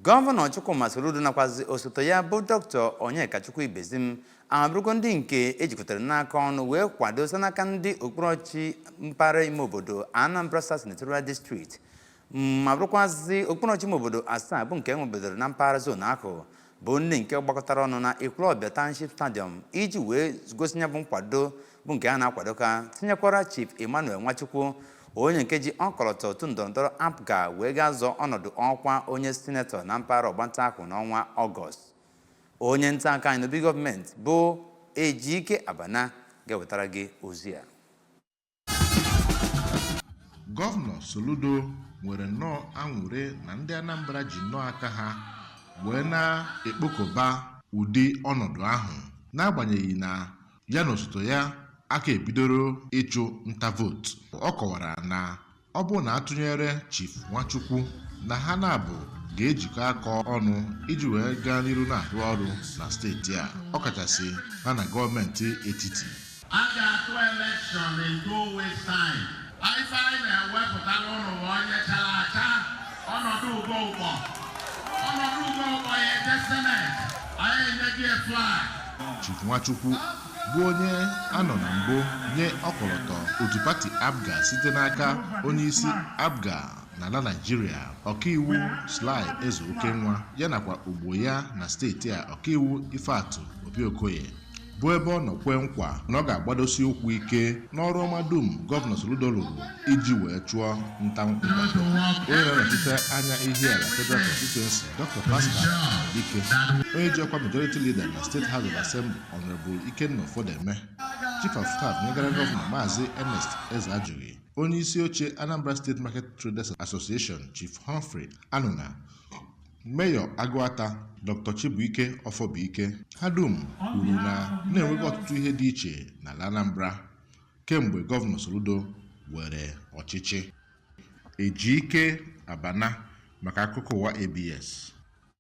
Gọvanọ Chukwuma Soludo nakwazi osote ya bụ Dr. Onyekachukwu Ibezim abụrụgo ndị nke ejikọtara n'aka ọnụ wee kwado site n'aka ndị okpuru ọchịchị mpaghara ime obodo Anambra South Senatorial District ma bụrụkwazị okpuru ọchịchị ime obodo asaa bụ nke enwebedoro na mpaghara zon ahụ bụ ndị nke gbakọtara ọnụ na Ekwulọbịa Township Stadium iji wee gosi ya bụ nkwado bụ nke a na-akwado ka tinyekwara Chief Emmanuel Nwachukwu onye nke ji ọkọlọtọ otu ndọrọndọrọ APGA wee ga-azọ ọnọdụ ọkwa onye sinetọ na mpaghara ọgbanta ahụ n'ọnwa Ọgọst onye nta akụkọ anyị n'obi gọọmenti bụ Ejike Abana ga-ewetara gị ozi a gọvanọ soludo nwere nnọọ aṅụrị na ndị anambra ji nnọọ aka ha wee na-ekpokọba ụdị ọnọdụ ahụ n'agbanyeghị na ya na osote ya aka ebidoro ịchụ nta vootu ọ kọwara na ọ bụrụ na atụnyere Chief Nwachukwu na ha naabọ ga-ejikọ aka ọnụ iji wee gaa n'iru na-arụ ọrụ na steeti a ọkachasị ha na gọọmenti etiti a ga-atụ elekshọn in two weeks time Ife anyị na-ewepụtara ụnụ ma onye chara acha Ọnọdụgo Ụkpọ Ọnọdụgo Ụkpọ ya eje seneti anyị enye gị flag Chief Nwachukwu bụ onye a nọ na mbụ nye ọkọlọtọ otu pati APGA site n'aka onyeisi APGA n'ala Naịjirịa ọkaiwu Sly Ezeokenwa ya nakwa ogbo ya na steeti a ọkaiwu Ifeatụ Obi Okoye bụ ebe ọ nọ kwee nkwa na ọ ga-agbadosi ụkwụ ike n'ọrụ ọma dum gọvanọ Soludo rụrụ iji wee chụọ nta nkwado onye na-anọchite anya Ihiala Federal Constituency Dr. Pascal Agbodike onye ji ọkwa majority leader na State House of Assembly Honorable Ikenna Ofodeme Chief of Staff nyegara gọvanọ Maazị Ernest Ezeajụghị onye isi oche Anambra State Market Traders Association Chief Humphrey Anụna Meyọ Agụata Dr. Chibuike Ọfọbụike ha dum kwuru na na-enwego ọtụtụ ihe dị iche n'ala Anambra kemgbe gọvanọ Soludo were ọchịchị Ejike Abana maka akụkọ ụwa ABS.